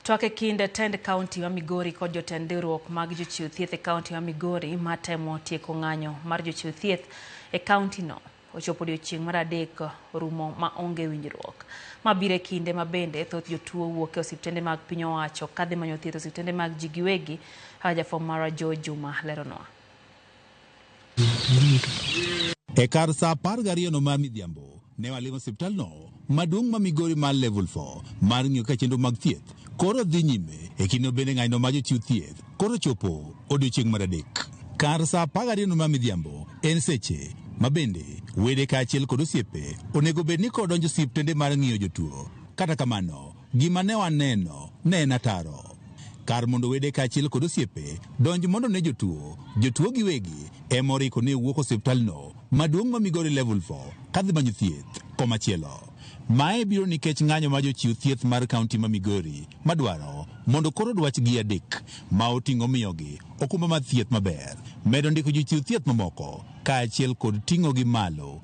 Twak e kind tend kaunti ma Migori kod jotend riwruok mag jochiw thieth e kaunti ma Migori ma temo tieko ng'anyo mar jochiw thieth e kauntino ochopo odiechieng' mar adek rumo ma onge winjruok. Ma biro e kinde ma bende thoth jotuo wuok e osiptende mag piny owacho kadhi manyo thieth e osiptende mag ji giwegi, kaka jafwamb marwa Joe Juma leronwa. E kar sa apar gariyono mar midhiambo, ne walimo osiptalno maduong' ma Migori mar Level 4 mar ng'iyo ka chenro mag thieth koro dhi nyime. E kindeno bende ng'anyo mar jochiw thieth koro ochopo odiechieng' mar adek. Kar sa apar gariyono mar midhiambo en seche ma bende wede kaachiel kod osiepe onego bed ni koro donjo osiptende mar ng'iyo jotuo. Kata kamano, Gima ne waneno ne en ataro. Kar mondo wede kaachiel kod osiepe donj mondo one jotuo, jotuo giwegi ema oriko ni owuok osiptalno maduong' ma Migori Level Four kadhi manyo thieth komachielo. Mae biro nikech ng'anyo ma jochiw thieth mar kaunti ma Migori madwaro mondo koro dwachgi adek ma oting'o miyogi okumba mar thieth maber, medo ndiko jochiw thieth mamoko kaachiel kod ting'ogi malo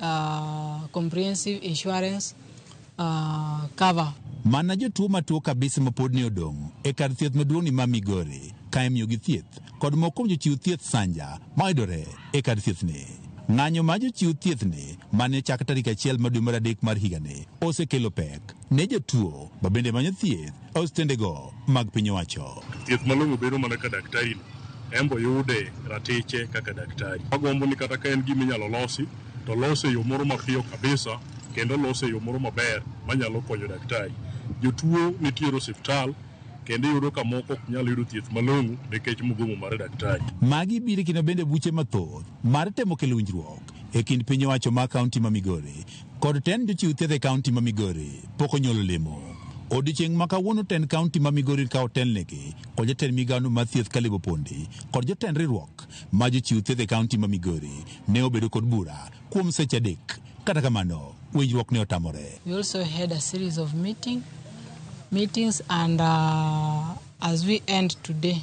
uh, comprehensive insurance uh, cover. Mana jotuo matuo kabisa ma pod ne odong' e kar thieth maduong'ni ma Migori ka imiyogi thieth kod moko kuom jochiw thieth sanja mayudore e kar thiethni. Ng'anyo ma jochiw thiethni ma ne ochak tarik achiel ma dwe mar adek mar higani osekelo pek ne jotuo ma bende manyo thieth ostendego mag piny owacho. Thieth malong'o bedo mana ka daktari no embo yude ratiche kaka daktari. Agombo ni kata ka en gima inyalo losi to lose e yo moro mapiyo kabisa kendo lose e yo moro maber manyalo konyo daktari. Jotuo nitiere osiptal kendo iyudo ka moko ok nyal yudo thieth malong'o nikech mugomo mar daktari. Magi biro kino bende buche mathoth mar temo kelo winjruok e kind piny owacho ma kaunti ma Migori kod tend jochiw thieth e kaunti ma Migori pok onyuolo lemo. Odiechieng' ma kawuono tend kaunti ma Migori ka otelnegi kod jatend migawno mar thieth Caleb Opondi kod jotend riwruok ma jochiw thieth e kaunti ma Migori ne obedo kod bura kuom seche adek. Kata kamano, winjruok ne otamore. We also had a series of meeting, meetings and uh, as we end today,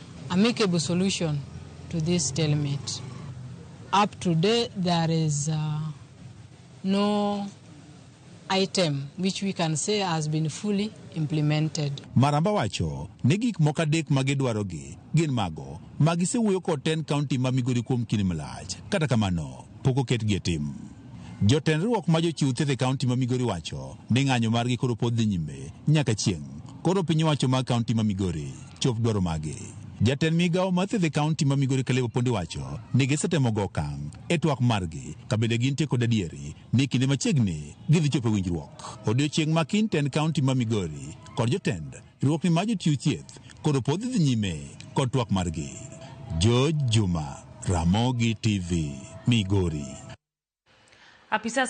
amicable solution to this stalemate. Up to today, there is uh, no item which we can say has been fully implemented. Maramba wacho ni gik moko adek ma gidwarogi gin mago ma gisewuoyo kod ten county ma Migori kuom kinde malach, kata kamano pok oketgi e tim. Jotend riwruok ma jochiw thieth e kaunti ma Migori wacho ni ng'anyo margi koro pod dhi nyime nyaka chieng'. Koro piny owacho ma kaunti ma Migori chop dwaro mage. Jatend migawo mar thieth e kaunti ma Migori Caleb Opondi wacho ni gisetemo go okang' e twak margi ka bende gintie kod adieri ni kinde machiegni gidhi chopo e winjruok. Odiochieng' ma kiny tend kaunti ma Migori kod jotend Riwruokni ma jochiw thieth koro pod dhi nyime kod twak margi. George Juma, Ramogi TV, Migori. Apisas